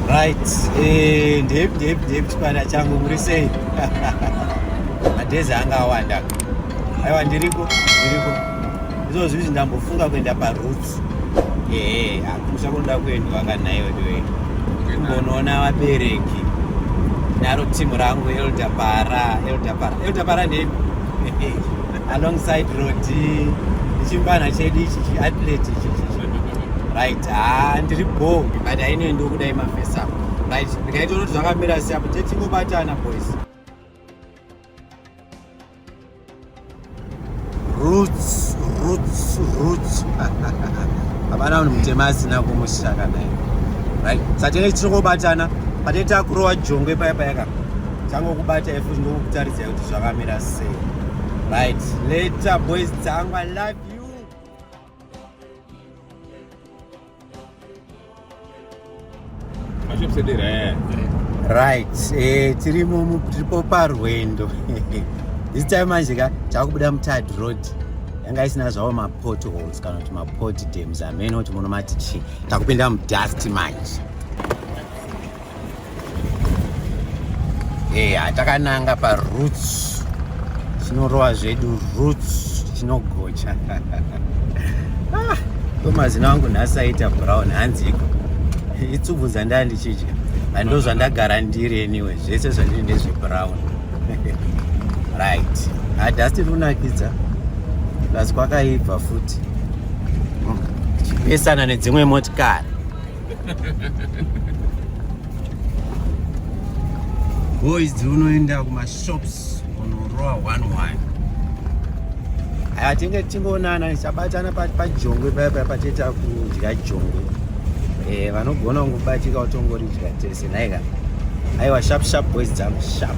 right eh, ndip ndip ndip chipanda changu muri sei madhezi anga awanda aiwa ndiriko ndiriko izvo zvizvi ndambofunga kuenda paroots ehe eh, hakusha kunoda kuendwa kanaiwe ndiwe kumbonoona vabereki naro timu rangu eldabara eldabara eldabara ndepi alongside rodi ndichimbana chedu ichi chiatlete ichi right haa ah, ndiri bo but ainoi ndokudai mafesa right ndikaita unoti zvakamira seapo tetingobatana boys roots roots roots hapana munhu mutema asina kumushaka naye right satenge tichiri kubatana patete akurowa jongwe paya payaka tangokubata ifu ndokukutarise kuti zvakamira sei right later boys dzangu i love you Eh. right eh, tirimo tiripo parwendo this time manje ka takubuda mutad road yanga isina zvavo mapot holes kana kuti mapot dams amene kuti muno mati chii takupinda mudusk manje eya eh, takananga paroots tinorova zvedu roots tinogocha ah, ko mazina angu nhasi aita brown hanziko itsubvu dzandaa ndichidya ando zvandagara ndiri anyway zvese zvandiri ndezvebrown right hadhasi ah, runakidza plus kwakaibva futi hmm, chipesana nedzimwe motikari boys dziunoenda kumashops unorowa one one aya tinge tingoonana tichabatana pajongwe paya paya pateta kudya jongwe eh, vanogona kungobatika utongoridya tese nhaika aiwa sharp sharp boys dzangu sharp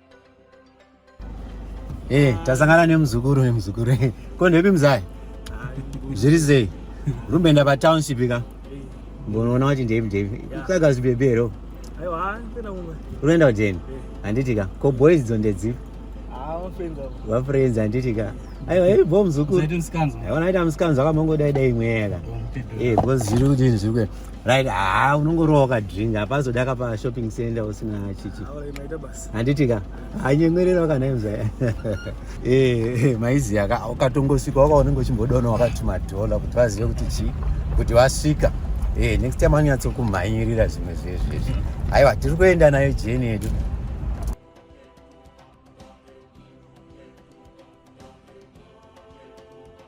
Hey, eh, tasangana nemuzukuru nemuzukuru eh, ko ndepi mzai zviri sei rumboenda patownship ka mbonoona kuti ndepi ndepi tsvaga zvibebe here unoenda kujeni eh. handiti ka ko boys dzo ndedzipi vafriends ah, handiti ka aiwa iri bo muzukuru aona aita musikanzi akamongodaidai mweya ka because zviri kuti zvinhu zviri kuenda right haa ah, unongorowa kadrink hapazoda kapa shopping center usina chichi handiti ka hanyemwerera wakanaimza eh, eh, maiziya ka ukatongosvika waka unenge uchimbodona wakatuma dhola kuti vazive kuti chii kuti vasvika eh, next time anonyatsokumhanyirira zvimwe zvezvezvi aiwa tiri kuenda nayo jeni yedu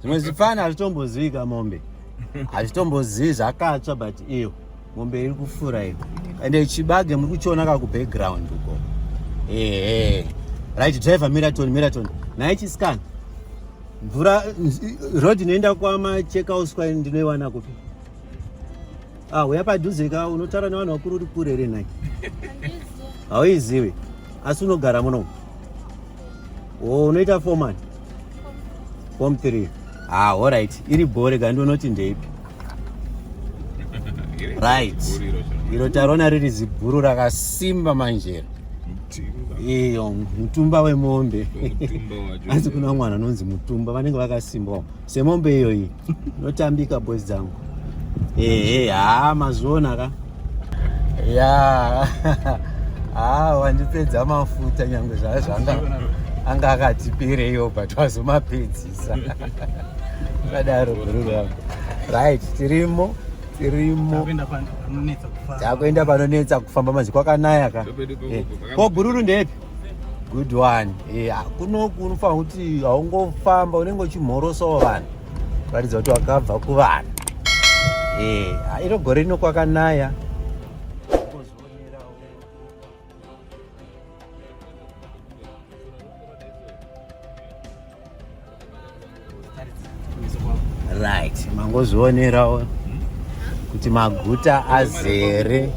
zvimwe zvipfana hazvitombozivi kamombe hazvitombozivi zvakatsva but iyo mombe iri kufura iyo ende chibage muri kuchiona ka kubackground uko ehe right driver miraton miraton naye chiscan mvura road inoenda kwama chekauswa ndinoiwana kupi ah uya padhuze ka unotaura nevanhu vakuru uri kure here nhai hauizivi asi unogara munomu o oh, unoita fomani form 3 ah alright iri bhore ka ndonoti ndeipi right iro tarona riri zibhuru rakasimba manjera iyo mutumba wemombe asi kuna mwana anonzi mutumba vanenge vakasimbawo semombe iyoyi Notambika boys dzangu. Ehe, haa mazviona ka. Ya. Haa wandipedza mafuta nyangwe zvazvanga anga akati pereyo but wazomapedzisa. Kadaro bhururu yangu. Right, tirimo tirimo takuenda panonetsa kufamba mazi kwakanaya ka. Ko bhururu ndepi? good one yeah. kunoku unofanira kuti haungofamba unenge uchimhorosawo vanhu kuratidza kuti wakabva kuvanhu yeah. iro gore rino kwakanaya right mangozvionerawo kuti maguta azere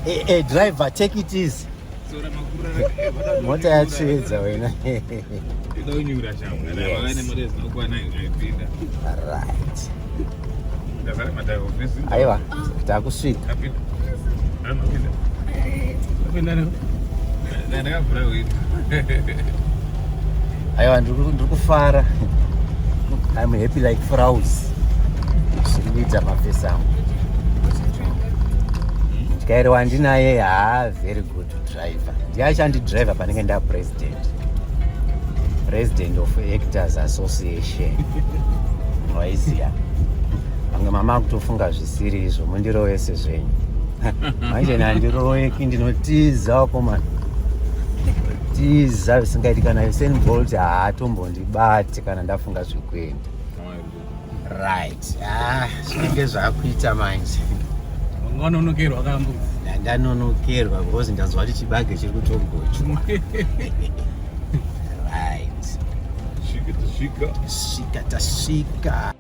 hey, hey, driver take it easy mota yatsvedza wena right aiwa takusvika aiwa ndiri kufara I'm happy like frows zviri kuita mafesi angu mutyairi wandinaye haa very good Driver. Ndiye achandi driver panenge nda president. President of Actors Association. Maiziya. Pamwe mama akutofunga zvisiri izvo mundirovese zvenyu. Manje nandiroeki ndinotiza komana. Tiza zvisingaiti kana Usain Bolt haatombondibati kana ndafunga zvekuenda. right ah zvinenge zvakuita manje wanonokerwa kambudzi ndanonokerwa because ndanzwa kuti chibage chiri kutongochwa right svika tasvika svika tasvika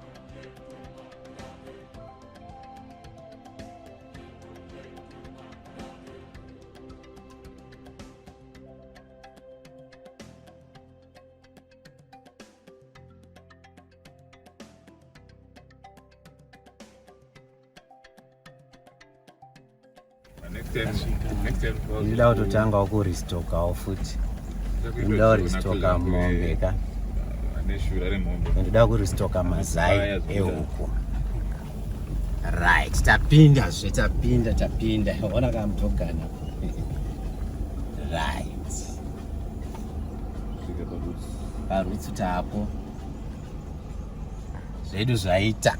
inoda kutotanga wakuristokawo futi inoda kuristoka mombe ka ndoda kuristoka mazai ehuku right tapinda zve tapinda tapinda ona kamutogana right parutsu tapo zvedu zvaita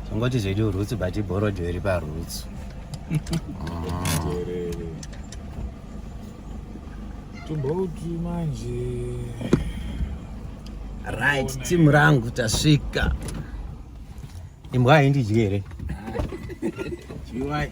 tongoti zvedu rutsu but ibhorojo iri parutsu tumbouti manje right timu rangu tasvika imbwa haindidyi here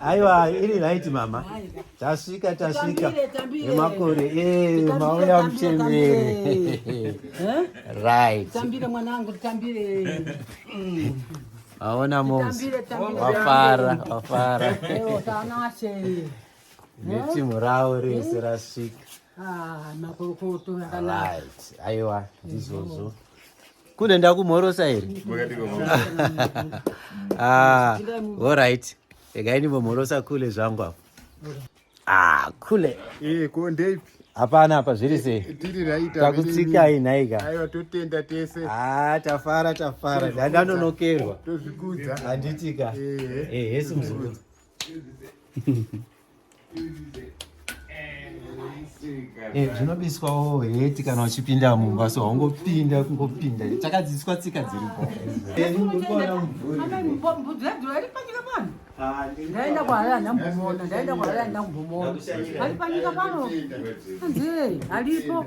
Aiwa, iri right mama. Tasvika tasvika. Nemakore eh mauya mchembere. Right. Tambire mwanangu, tambire. Mm. Aona moms. Wafara, wafara. Leo tanashe. Neti murao rese rasvika. Ah, makorokoto akanaka. Right. Aiwa, ndizvozvo. Kune ndakumhorosa here? Ah, all right. Regai ndimbomhorosa kule zvangu apo. Ah, kule. Eh, ko ndeipi? Hapana apa zviri sei? Tiri right. Takutsikai nhaika. Aiwa totenda tese. Ah, tafara tafara. Ndandanonokerwa. Tozvikudza. Handitika. Eh, eh, hesi muzukuru. Eh, zvinobiswawo heti kana uchipinda mumba so haungopinda kungopinda takadzidziswa tsika dziripo ndaenda kwahala ndambomona ndaenda kwahala ndambomona ali panyika pano anzei alipo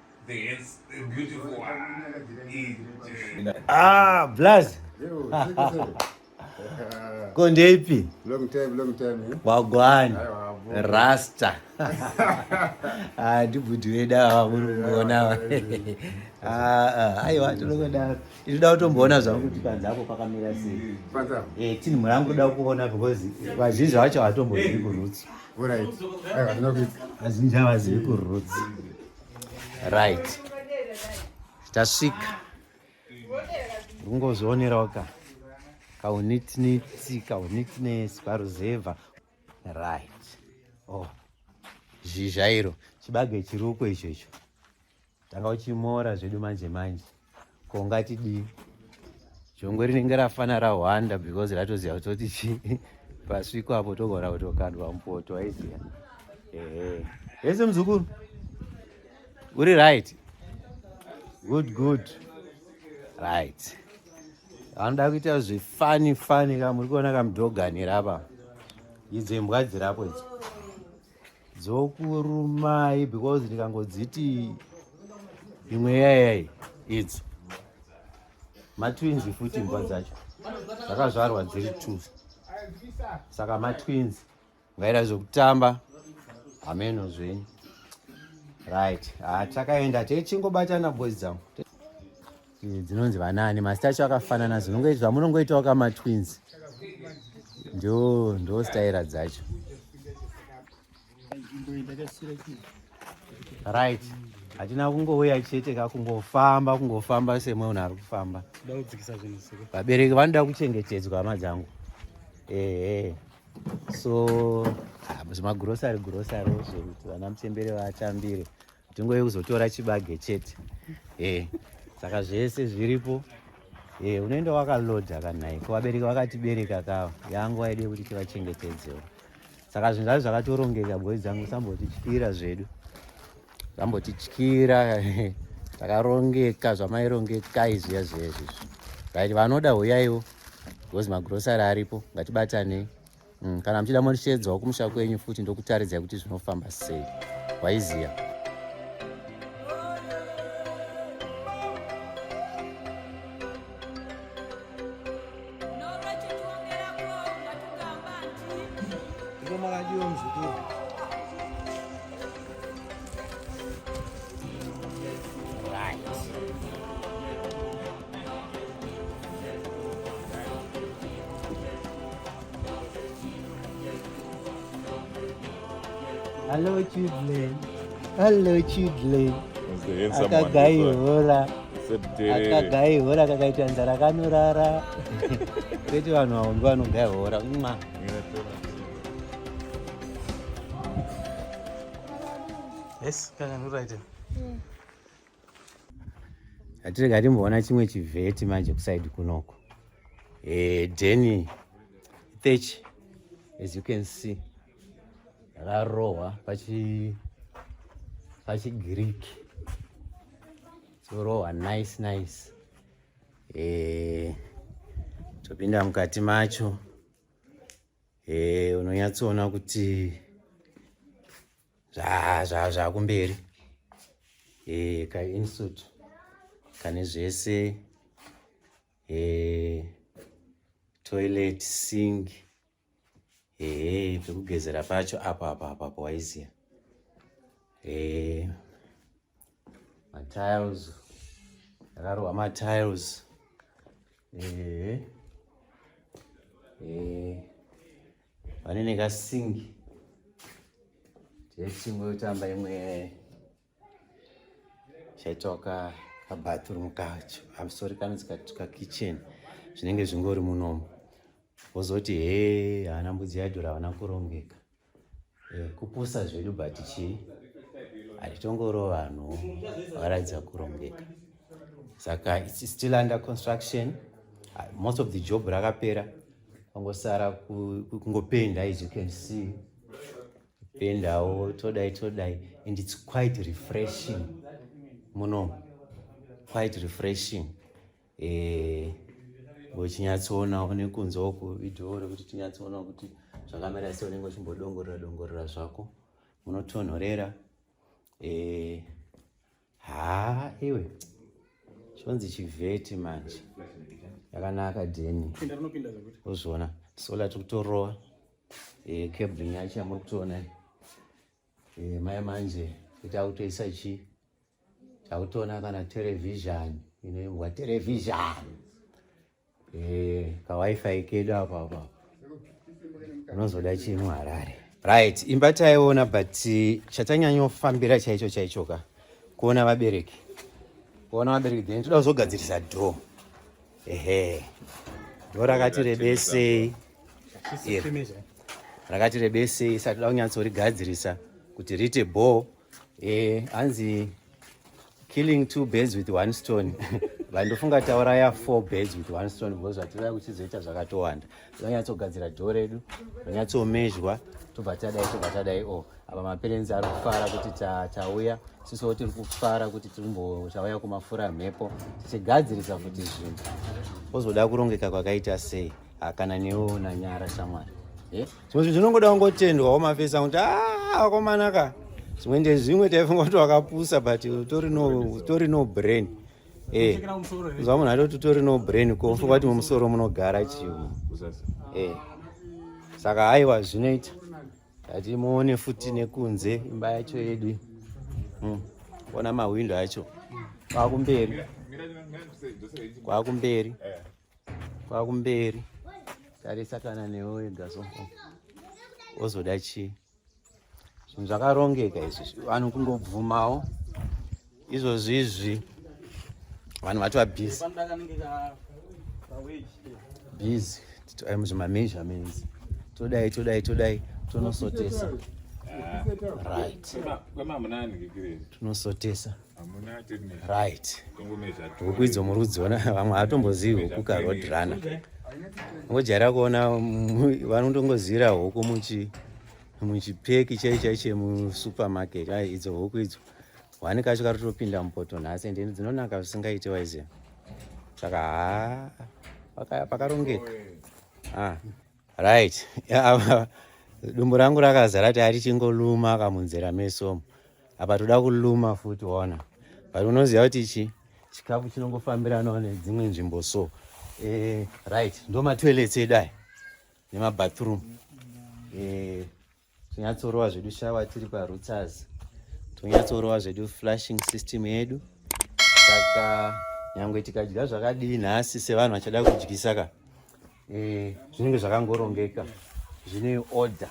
Ah, blaz. Konde ipi? Long time, long time. Eh? Wagwani. Rasta. Ah, ndibudi weda awa muri kuona awa. Ah, ah, aiwa tinokwenda. Inoda kutomboona zvangu kuti panze apo pakamira sei. Panze. Eh, tini murangu kuda kuona because vazhinji vacho hatombozii kurutsa. Alright. Aiwa ndinokuita. Vazhinji havazivi kuroots. Right. Tasvika. Ungozvionerawo ka. Kaunitniti, kaunitness, paruzevha. Right. Oh. Zhizha iro. Chibage chiruko icho icho. tanga uchimora zvedu manje manje ko ungatidii jongwe rinenge rafana rahwanda because ratoziva kutoti chii pasviko apo togona kutokandwa mupoto aiziva ehe hese muzukuru uri right good good right anoda kuita zvifani fani ka muri kuona kamudoganira apa idzo imbwa dzirapo idzo dzokurumai because ndikangodziti imwe yayai idzo matwins futi imbwa dzacho dzakazvarwa dziri t saka matwins ngaira zvekutamba hameno zvenyu right ah, takaenda techingobatana boys dzangu dzinonzi vanani mazita acho akafanana zvamunongoitawo kama twins ndo ndo staira dzacho right hatina kungouya chete ka kungofamba kungofamba semwe unhu ari kufamba vabereki vanoda kuchengetedzwa hama dzangu ehe so ah, zvimagurosari gurosari zvekuti vana mutembere vatambire Nzvimbo yekuzotora chibage chete. Eh. Saka zvese zviripo. Eh, unoenda wakaload akanai. Ko vabereki vakatibereka kawa. Yangu aide kuti tivachengetedzewo. Saka zvinhu zvacho zvakatorongeka boy dzangu sambotityira zvedu. Sambotityira. Takarongeka zvamairongeka izvi yazvezvi. Right, vanoda huyaiwo. Because magrocery aripo. Ngatibatanei. Mm, kana muchida moshedzwa kumusha kwenyu futi ndokutaridzai kuti zvinofamba sei waiziya Hello children. Hello children. Akagaihora. Akagaihora kakaita nzara kanorara. Kwete vanhu avo ndovanogayihora. Mwa. Yes, kaka nuraita. atirega timboona chimwe chivheti manje kusaidi kunoko eh, deni thechi as you can see rarohwa pachi pachigiriki chorohwa nice nice eh, topinda mukati macho eh, unonyatsoona kuti zvakumberi zva, zva e, eh, kainsuit kane zvese e, toilet sing ee eh, pekugezera pacho apo apo apo apo waiziya ee matiles akarohwa matiles ee ee Vane nekasingi techingo kutamba imwe chaitwa ka kabathroom kacho amsori kanonzi kakitchen zvinenge zvingori munomo wozoti hee haana mbudzi yaidhura havana kurongeka Eh, kupusa zvedu but chii hatitongoro vanhu varatidza kurongeka saka its still under construction ah, most of the job rakapera pangosara kungopenda as you can see pendawo todai todai and its quite refreshing muno quite refreshing eh, uchinyatsoonao nekunzwawo kuvideo rekuti tinyatsoonao kuti zvakamira se unenge uchimbodongorera dongorera zvako unotonhorera eh, haa iwe chonzi chivheti manje yakanaka deni uzviona sola tiri kutorova eh, cabrin yacho yamuri kutoona Eh, maya manje kuti akutoisa chii takutoona kana terevhizhani inoimbwa terevhizhani eh, kawifi kedu apa apa unozoda chii muharare right imba taiona but chatanyanyofambira chaicho chaicho ka kuona vabereki kuona vabereki then toda kuzogadzirisa dho ehe ndo rakati rebesei rakati rebesei isati da kunyatsorigadzirisa kuti riite bho eh, hanzi killing two birds with one stone vandofunga tauraya four birds with one stone because zvatiraya kuchizoita zvakatowanda tinonyatsogadzira dho redu ronyatsomezhwa tobva tadai tobva tadai o oh, apa maperenzi ari kufara kuti tauya sisiwo tiri kufara kuti tauya kumafura mhepo tichigadzirisa kuti zvinhu ozoda kurongeka kwakaita sei hakana newo nanyara shamwari eh? zvimwe zvinhu zvinongoda kungotendwa womafesa kuti ah, akomanaka zvimwe ndezvimwe taifunga kuti wakapusa but utori no brain Eh. Zva munhu atoti utori no brain ko mfuka kuti mumusoro munogara chiwo. Eh. Saka haiwa zvinoita. Ati muone futi nekunze imba yacho yedu. Mm. Ona mahwindo acho. Kwakumberi. Kwakumberi. Kwakumberi. Tarisa kana newe wega so. Ozoda chii? zvinhu zvakarongeka izvi vanhu kungobvumawo izvozvi izvi vanhu vatova busy busy titori muzvimameasurements todai todai todai tonosotesa right tunosotesa right huku idzo muri kudziona vamwe hatombozivi huku ka road runner ngojaira kuona vanotongozivira huku muchi muchipeki chai chai chemusupermarket ai idzo huku idzo wani kacho kari topinda mupoto nhasi ende dzinonaka zvisingaiti waiziva saka haa pakarongeka ah. right yeah, dumbu rangu rakazara ti arichinkoluma akamunzera meso apa toda kuluma futi ona but unoziva kuti chi chikafu chinongofambiranawo nedzimwe nzvimbo so eh, right ndo matoilets edu aya nemabathroom eh, Tonyatsorowa zvedu shawa tiri parutsaz tonyatsorowa zvedu flashing system yedu saka nyangwe tikadya zvakadii nhasi sevanhu vachada kudyisa ka e, zvinenge zvakangorongeka zvine order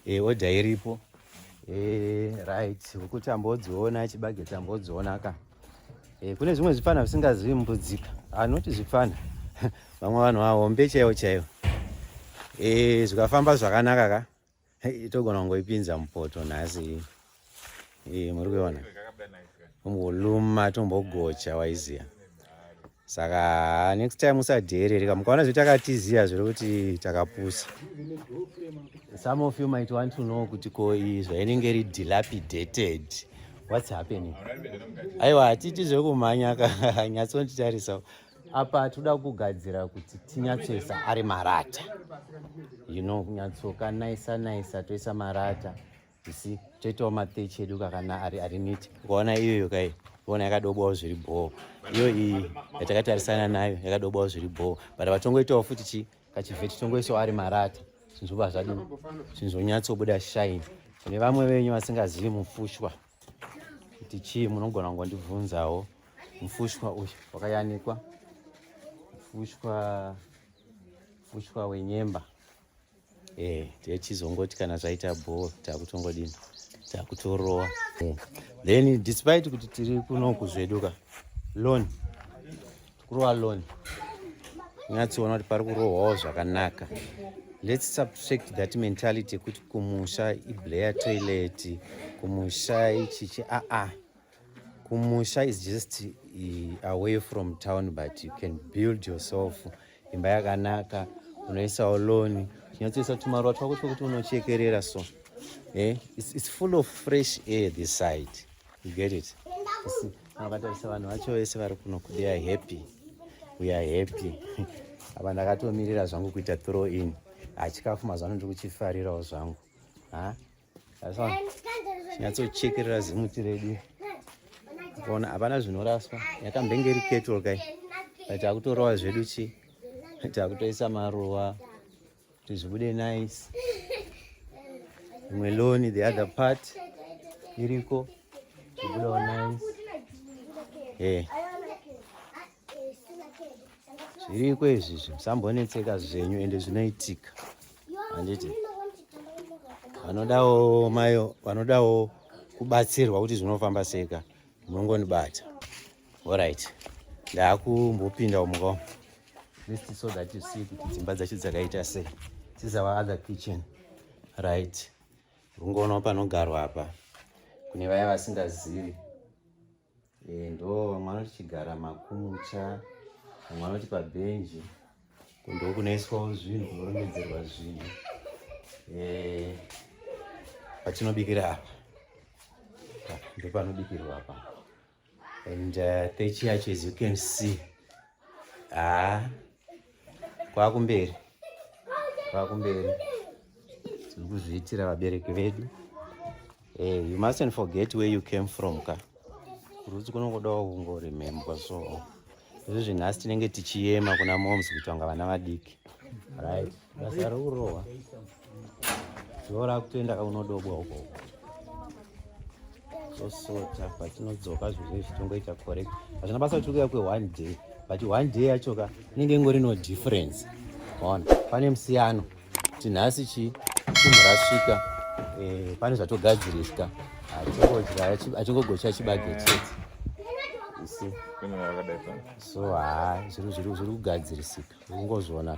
e, order iripo e, right huku tambodziona chibage tambodziona ka Eh, kune zvimwe zvipfana zvisingazivi mbudzika anoti ah, zvipfana vamwe vanhu vahombe chaivo chaivo eh, zvikafamba zvakanaka ka itogona kungoipinza mupoto nhasi eh, muri kuiona umbuluma tombogocha waiziva saka next time usadheerereka mukaona zve takatiziva zviri kuti takapusa some of you might want to know kuti ko iyi zvainenge iri dilapidated what's happening aiwa hatiti zvekumhanya ka nyatsonditarisa apa toda kugadzira kuti tinyatsoisa ari marata you know kunyatsoka naisa naisa toisa marata isi toitawo matechi edu kakana ari ari niti ukaona iyoyo kai uona yakadobwawo zviri bhoo iyo iyi yatakatarisana nayo yakadobwawo zviri bhoo but vatongoitawo futi chi kachivheti tongoisawo ari marata zvinhu zvoba zvadi zvinhu zvonyatsobuda shine kune vamwe venyu vasingazivi mufushwa kuti chii munogona kungondibvunzawo mufushwa uyu wakayanikwa mufushwa mufushwa wenyemba eh tichizongoti kana zvaita bhoo takutongodini takutorowa eh. then despite kuti tiri kuno kuzveduka loan tikurowa loan nyatsoona kuti pari kurohwawo zvakanaka let's subtract that mentality yekuti kumusha iblayer toilet kumusha ichichi aa ah, ah. kumusha is just eh, away from town but you can build yourself imba yakanaka unoisawo loni chinyatsoisa tumaruwa twako twekuti unochekerera so eh? it's, it's full of fresh air this side you get it akatarisa vanhu vacho vese vari kuno they are happy we are happy apa ndakatomirira zvangu kuita throw in hachikafu mazvano ndiri kuchifarirawo zvangu ha nyatsochekerera zimuti redu ona hapana zvinoraswa yakambenge iri kettle kai but akutorova zvedu chi takutoisa maruva kuti zvibude nice imwe loni the other part iriko zvibudawo nice yeah. zviriko izvi zvimusambonetseka zvenyu ende zvinoitika handiti vanodawo mayo vanodawo kubatsirwa kuti zvinofamba seka munongonibata orit ndaakumbopinda umuka list so that you see kuti dzimba dzacho dzakaita sei this our other kitchen right rungoonawo panogarwa apa kune vaya vasingazivi Eh, ndo vamwe vanoti chigara makucha vamwe vanoti pabhenji kundo kunoiswawo zvinhu kunorongedzerwa zvinhu eh, patinobikira apa ndo panobikirwa apa and uh, techi yacho as you can see ah, kwakumberi kwakumberi tiri kuzviitira vabereki vedu hey, eh, you mustn't forget where you came from ka kurudzi kunongodawo kungoremembwa so izvi zvinhasi tinenge tichiyema kuna moms kuitwa nga vana vadiki right basa rikurohwa zora kutoenda kaunodobwa uko tosota patinodzoka zvinhu zvinenge zvichitongoita correct hazvina basa kuti ukuya kwe one day but one day yacho ka inenge ingori no difference ona pane musiyano kuti nhasi chi chimhu rasvika eh, pane zvatogadziriswa achingogocha chibage chete so haa zviri kugadzirisika ungozviona